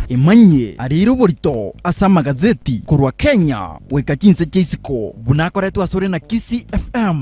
Emanyie ariire oborito ase amagazeti korwa Kenya goika chinse chia isiko buna akoretwe asore na Kisii FM.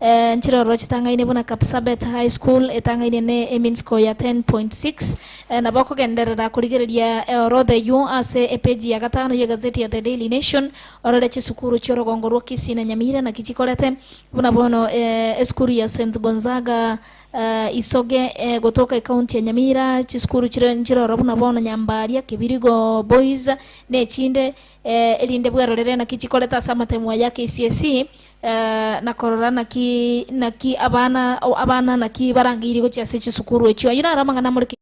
Ee, chirorua chitang'aine buna Kapsabet High School etang'aine ne e mean score ya 10.6. Ee, nabo okogenderera korigereria eorodha eyio ase epeji ya gatano y'egaseti ya The Daily Nation, orore chisukuru chi'orogongo rwa Kisii na Nyamira naki chikorete. Buna bono, ee, esukuru ya Saint Gonzaga, ee, Isoge, ee, gotoka ekaunti ya Nyamira, chisukuru chire nchirora buna bono Nyambaria, Kibirigo Boys, na echinde, erinde bwerorere naki chikorete ase amatemo aya ake ECSE, na korora naki naki abana abana naki barangeirie gochia ase chisukuru echio. Ayio naro amang'ana amore ki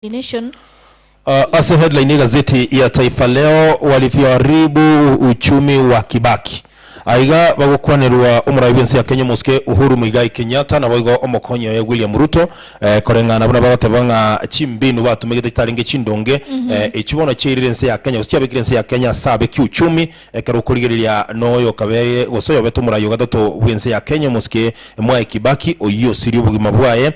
Nation. Ase headline y'egazeti ya Taifa Leo, Walivyoharibu Uchumi wa Kibaki. Aiga bagokwanerwa omoraai bwensi ya Kenya omosike Uhuru Muigai Kenyatta naboigo omokonyi oye William Ruto koreng'ana buna bagoteba ng'a chimbinu batumegete chitarenge chindonge echio bono chiairire ense ya Kenya gose chiabekire ense ya Kenya ase abe kiuchumi ekero okorigereria noyo okabe gose oyobete omoraai ogatato bwense ya Kenya omosike Mwai Kibaki oyio osirie obogima bwaye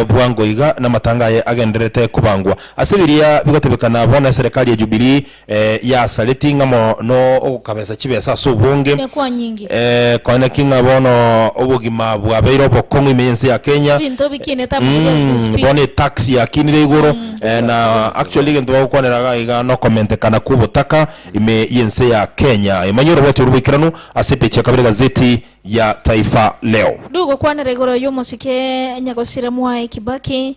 bwango iga namatanga aye agendererete kobangwa ase biria bigotebekana bono eserekari ya Jubilee Ee, yasaretie ng'a mono ogokabesa chibesa ase obonge. Ekwa nyinge. Ee, konya naki ng'a bono obogima bwabeire obokong'u ime y'ense ya Kenya. Ebinto bikinete amariga as we Mm, speak. bono etax yakinire igoro Mm, eh, na etax yakinire igoro. actually egento bagokwanera iga iga nokomentekana kw'obotaka ime y'ense ya Kenya. Ee, manya orobwate oru boikeranu ase epeji ya kabere egazeti ya Taifa Leo. Ndugokwanera igoro y'omosike onye gosira Mwae Kibaki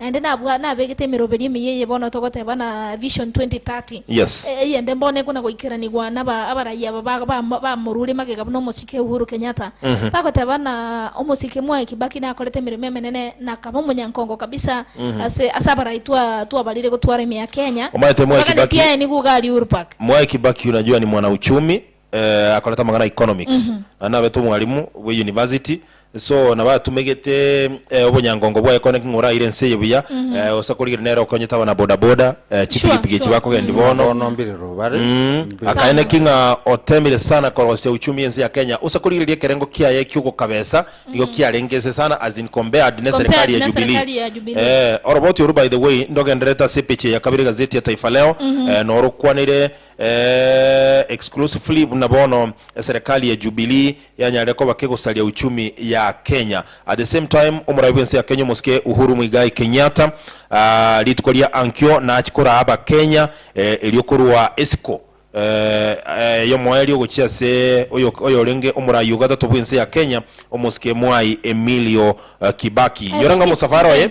Naende nabwa- nabegete emeroberio emeyia eye bono togoteba na Vision 2030. Yes. E- Eyende mbono ekona goikeranigwa naba abarai aba ba- ba- bamorure magega buna omosike Uhuru Kenyatta. Bagoteba buna omosike mwaye Kibaki nakorete emeremo emenene na akaba omonyankongo kabisa ase ase abarai twa twabarire gotwara ime ya Kenya. Omanyete Mwai Kibaki- Ebaganetie aye nigo iga aria uhuru park. Mwai Kibaki unajua ni mwanauchumi akorete amang'ana a economics, naende nabete omwalimu bwe university, so nabo atumegete obonyangongo bwaye kone ki ng'a oraire ense eye buya, gose korigereria nere okonyete abana boda boda, chipikipiki echi bakogendia bono, akaene ki ng'a otemire sana korosia uchumi y'ense ya Kenya, gose korigereria ekerengo kiaye ki'ogokabesa nigo kiarenge nse sana as in compared neserikali ya Jubilee. Oroboti oru by the way, ndogendererete ase epechi eye ya kabere egazeti ya Taifa Leo, norokwanire. Eeh exclusively buna bono eserekari ya Jubilee yanyarire koba kegosaria uchumi ya Kenya. At the same time omorabi bwense ya Kenya omosike Uhuru Muigai Kenyatta aah rituko ria ankio nachi koraa abakenya eh erio korwa esiko eh yomoeri ogochia ase oyo oyorenge omoraai ogatato bwense ya Kenya omosike Mwai Emilio Kibaki. Inyora ng'a omosafara oye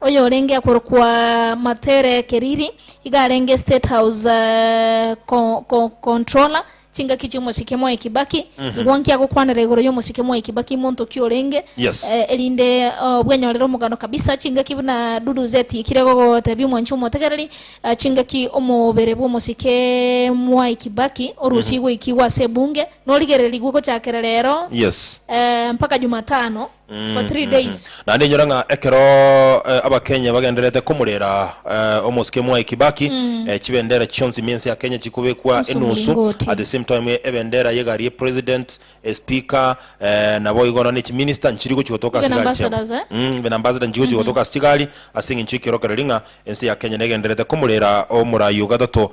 Oyorenge akorokwa Matere Keriri iga arenge State House Controller chingaki chi'omosike Mwai Kibaki. Igwa nki agokwanera igoro y'omosike Mwai Kibaki monto ki orenge erinde obwenyorere omogano kabisa. Chingaki buna Dudu zetiikire gogotebia omwanchi omotegereri chingaki omobere bw'omosike Mwai Kibaki orusie goikigwa ase ebunge norigererigwe gochakera rero mpaka Jumatano. for three days. Naende inyora ng'a ekero eh, abakenya bagendererete komorera eh, omosike Mwai Kibaki eh, chibendera chionsi mia ense ya Kenya chikobekwa Ense enusu omulingoti. at the same time eh, ebendera y'egari ye president eh, speaker eh, nabo igo nonya ne chiminister nchiri gochi gotoka Even ase egari chiabo ambassadors, eh? Mm, even ambassador nchiri gochi gotoka ase chigari ase eng'encho ekiorokereri ng'a ense ya Kenya negendererete komorera omoraai o gatato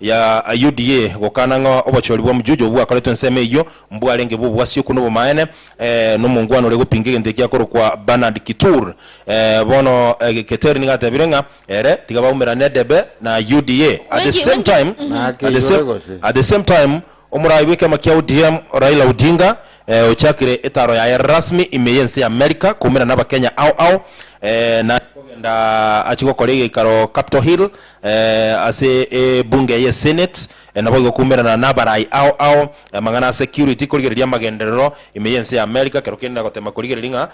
ya UDA gokana ng'a obochori bw'omochoocho obwo bwakoretwe ensemo eyio mbwarenge bw'obwasioku nobomaene nomongwana oria gopinga egento eki akorokwa Bernard Kitur. Bono Keter nigo atebire ng'a ere tiga baumera nedebe na UDA at the same time at the same time. Omoraai bw'ekiama kia ODM Raila Odinga ochakire etaro yaye rasmi ime y'ense y'America koumera n'Abakenya ao ao na aria kogenda achie gokora egeikaro Capitol Hill ase ebunge eye Senate naboigo koumerana n'abaraai ao ao amang'ana a security korigereria amagenderero ime y'ense y'America kero kende na gotema korigereria ng'a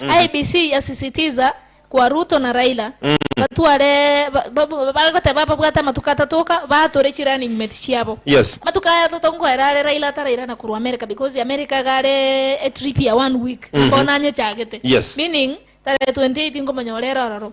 IEBC yasisitiza kwa Ruto na Raila batware bagoteba babwate amatuko atato oka batore chi running mate chiabo. Yes. Amatuko aya atato nkoera are Raila atarairana korwa America because America iga are a trip ya one week bono anyechagete. Yes. Meaning tarehe 28 nkomonyora ere ororo.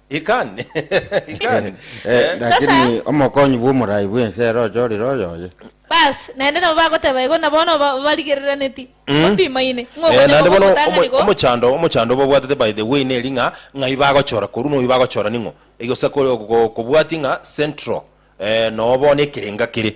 Ikani, ikani. Eh, Eh, Sasa- lakini omokonyi bw'omoraai bw'ense ere ochorire oyoye. Bas, naende nabo bagoteba igo, na bono ba- barigereraneti, Mm. bapimaine, ng'a Eh, ogochia naende kwa bono omotang'ani omo- igo. omochando omochando babwatete by the way neri ng'a ng'ai bagochora korwa noyu bagochora ning'o egesa kore- ko- kobwati ng'a central eh, noo bono ekerenga kere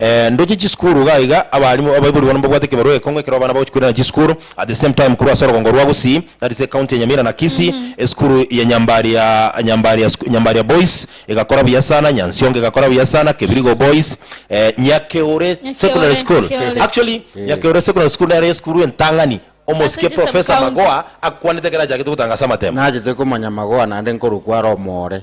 Eeh ndoche chisukuru iga iga abaalimu abaibori bono mbabwate ekebarua ekong'u ekero abana bagochi koirana chisukuru at the same time korwa ase orogongo rwa Gusii that is ecounty ya Nyamira na Kisii esukuru ya Nyambaria Nyambaria suk Nyambaria boys egakora buya sana Nyansiongo egakora buya sana Kebirigo boys eh Nyakeure secondary Nyakeore school Nyakeore actually Nyakeure secondary school nero esukuru entang'ani Ase omosike chi sub professor county. Magoha akwanete ekero achagete gotanga ase amatemo. Nachete komanya Magoha naende nkorokwa are omoore.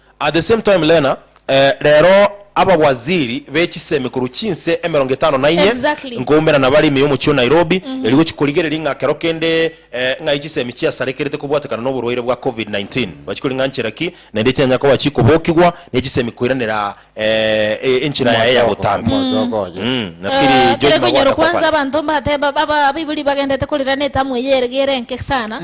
At the same time Lena, eh, rero abawaziri be chisemi korwa chinse emerongo etano na inye Exactly. nkoumera nabare ime y'omochie o Nairobi erio gochia korigereria ng'a kero kende eh, ng'ai chisemi chiasarekerete kobwatekana n'oborwaire bwa Covid-19 bachi kori ng'a nchera ki naende echinyanya koba chikobokigwa ne chisemi koiranera eh, e- enchera yaye ya Omochoko, botambi. omochoko oye. Mm, Eh, nafikiri George kere konyoro Magwata kwanza Kwapara. abanto mbateba aba abaibori bagendete korera na etamu eye ere gere enke sana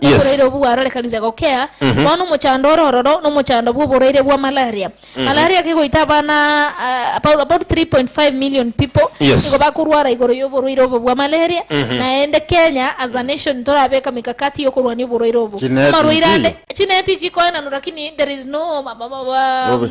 Yes. Oboraire obwo bwarorekanire gokea mono omochando ore ororo nomochando bw'oboraire bwa malaria. Malaria kegoita abana ah, about about 3.5 million people Yes. nigo bakorwara igoro y'oborwaire obo bwa malaria naende Kenya as a nation torabeka mikakati y'okorwania oborwaire obo. Chineti Amarwaire ande inki? chineti chikoenanwa lakini there is no ma- ma- ma- ma- Bobe.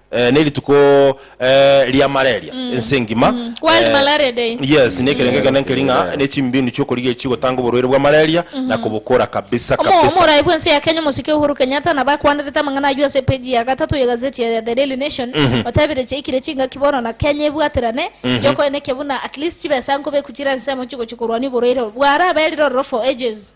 Eh, nerituko eh, ria malaria ense engima. World Eh, Malaria Day. Yes, ne ekerenge Eh, kene nkeri ng'a eh. ne chimbinu chi'okorigeria chigotanga oborwaire bwa malaria na kobokora kabisa Omo- kabisa. Omoraai bw'ense ya Kenya omosike Uhuru Kenyatta nabo akwanderete amang'ana ayio ase epeji ya gatato y'egazeti ya The Daily Nation otebire chiaikire chingaki bono na Kenya ebwaterane yokoenekia buna at least chibesa nkobeku chire ensemo chigochia korwania oborwaire obwo. Bwarabeire ororo for ages.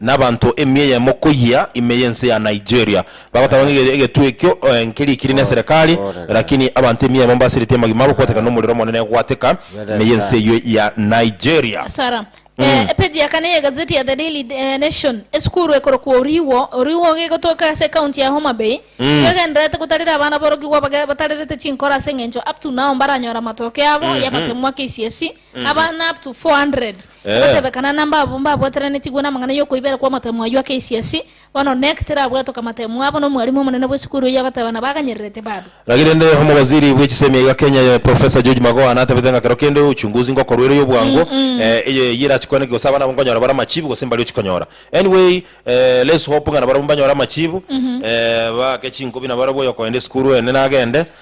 Nabanto emia eyemo koyia ime y'ense ya Nigeria bagoteba ng'a egetwe ekio nkeri ekiri neserekari, rakini abanto emia eyemo mbasiritie amagima abo kwateka nomorero omonene egwateka ime y'ense eyio ya Nigeria. Sara. Epeji ya kane y'egazeti ya The Daily Nation, Esukuru ekorokwa Oriwo, Oriwo iga egotoka ase ekaunti ya Homa Bay, iga egendererete gotarera abana aborokigwa batarerete chinkoro ase eng'encho up to now mbaranyore amatoke abo y'amakemo ma KCSE. Abana up to 400 Eh. abatebekana na mbabo mbabwateranetigwe namang'ana y'okoibera kw'amatemo ayio ake esiasi, bono Knec terabwatoke amatemo abo nomwalimu omonene bw'esukuru eyio agateba nabo aganyererete bado. Gaki rende omobaziri bw'echisemi iga Kenya ye Professor George Magoha natabete ng'a kero kende uchunguzi ngokorwa ere yobwango eh, eye eyio erachikwaneke gose abana abo nkonyora bare amachibu gose mbari ochikonyora. Anyway eh, let's hope ng'a nabarabwo mbanyore amachibu eh, baake chinko buna barabwo oyo okoenda esukuru ende nagende.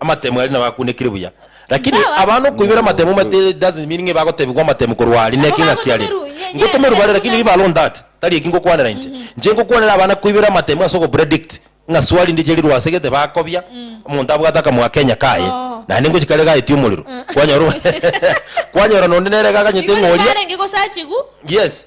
Amatemu aria nabo akunekire buya. Lakini abana okoibera amatemu omanyete it doesn't mean ng'a ebagotebigwa amatemu korwa aria naki engaki are. Ngotomerwe bare lakini riba are on that tari eki ngokwanera inche. Inche nkokwanera abana koibera amatemu ase ogopredict ng'a swa rinde chirirwe ase gete bakobia omonto abwate akamoga Kenya kaye naende ngochia kare gaetie omorero kwanyora kwanyora nonde nere iga aganyete ng'a oria yes.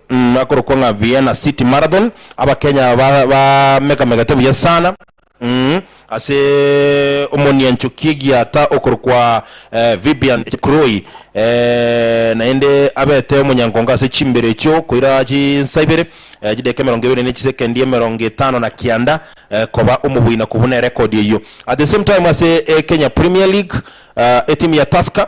Akorokwa ng'a Vienna City Marathon, Abakenya aba bamegamegete buya sana ase omoniancho Kiegiata okorokwa Vibian Chepkurui, naende abete omonyangongo ase chimbero echio koira chinsa ibere, chidakika emerongo ebere ne chisekendi emerongo etano na kianda, koba omoboina kobuna erekodi eyio. At the same time ase Kenya Premier League, etimu ya Tusker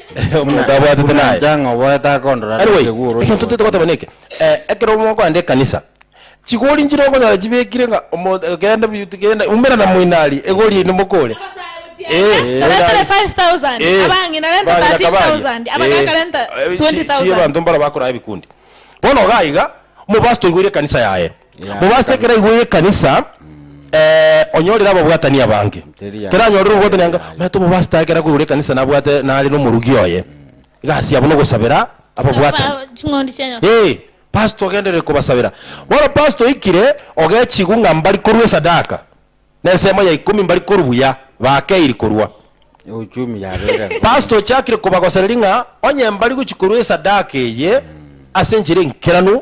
Omonto Buna- abwatete buna naye. enchang'a oboete akondora Anyway, arenge gw'oroche egento tete goteeba gochia. neke, eh, ekero mogoenda ekanisa, chigori nchire okonyora chibekire ng'a omo- eh, genda bi- genda umera na moino aria, egori eye nimokore. Eh, Toretire 5,000, eh, abang'ina renta bang'ina kabaria. 13,000, abagaka Eh, renta eh, chi- 20,000. chie abanto mbaro bakorara ebikundi. Bono iga iga, omopastor oigoire ekanisa yaye, Mobaase ekero aigwa y'ekanisa, eh, onyorire ababwatani abange. Teranyorire obwatani anga, maya tomobaase tae ekero akoigwa y'ekanisa nabwate nare n'omorugi oye. Egasi yabo nogosabera ababwatani. Aba ching'ondi chia Nyasae. Eh, pastor ogenderere kobasabera. Bono pastor oikire, ogechigwa ng'a mbari korwa esadaka, n'ensemo ya ikomi mbari korwa buya, bakeiri korwa. Euchumi yabeire enkombe. Pastor ochakire kobagosereri ng'a onye mbari gochi korwa esadaka eye ase enchera enkeranu,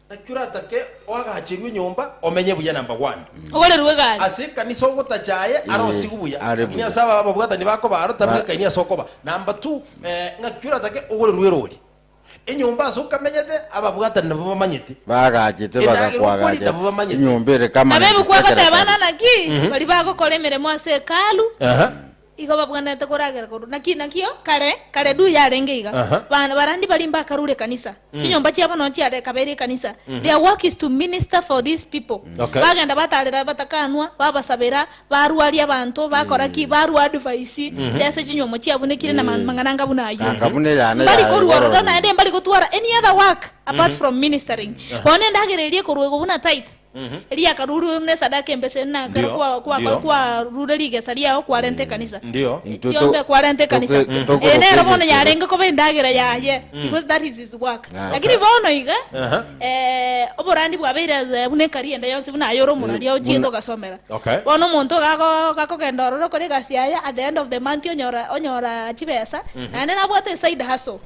Naki oratake oagacherwe enyomba omenye buya number one. Ogorerwe egari. Ase ekanisa ogotacha aye are osigwe buya. Are Lakini buya. ase aba ababwatani bakoba aro tari Ba- bwekaini ase okoba. Number two, eh, ngaki oratake ogorerwe erori. Enyomba ase okamenyete ababwatani nabo bamanyete. Baagachete Endagera okori bagakwagacha nabo bamanyete. enyomba ere kama Nabo 97 ebekwagoteeba, ekari. Naki baria bagokora emeremo ase Hekalu, Aha. Igo babwenerete koragera korwa naki nakio kare kare du yarenge iga. Aha. Bana barandi bari mbakarure ekanisa, chinyomba chiabo nonya chiare ekabeire ekanisa. Their work is to minister for these people. Okay. Bagenda batarera abatakanwa, babasabera, barwaria abanto, bakora ki, barwa advice, chese chinyomo chiabunekire na ma- mang'ana anga buna ayio. Anga buna eyane Mbari yaye korwa ororo igoro. naende mbari gotwara any other work apart from ministering. Bono endagera eria ekorwa igo buna tithe. eria yakarurwe buna esadaka embeseri, na ekero Ndio, kwa- kwa- ndio. kwarure rigesa riao kwarenta ekanisa. Ndio. Intwe to- Kiombe kwarenta ekanisa. toke- Eh, tokorokwa nero bono egesero. yarenge koba endagera yaye, because that is his work. Ah. Lakini bono iga, Aha. eh, oborandi bwabeire as- buna ekari ende yonsi buna aye ore omorari Eh, ochiete buna- ogasomera. Okay. Bono omonto gago- gakogenda ororo okore egasi yaye, at the end of the month onyora- onyora chibesa, naende nabwate eside hustle.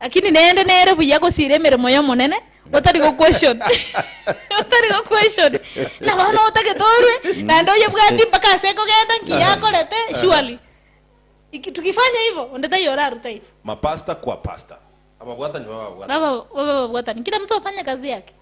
Lakini neende nere buya gosiira emeremo y'Omonene, otari goquestion, otari goquestion, na bono otagete orwe naende oyebwati mpaka ase kogenda nki yakorete, surely iki tukifanya hivo, onde taiyo oraruta igo. Mapasta kwa pasta. Ababwatani bababwatani. Baba babe babwatani, kila mtu afanye kazi yake.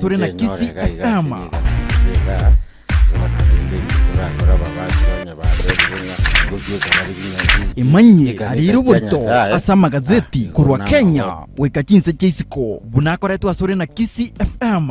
Tore na kisi ekama. Emanyie arire oborito ase amagazeti korwa Kenya goika chinse chia isiko buna akoretwe asore na Kisii FM.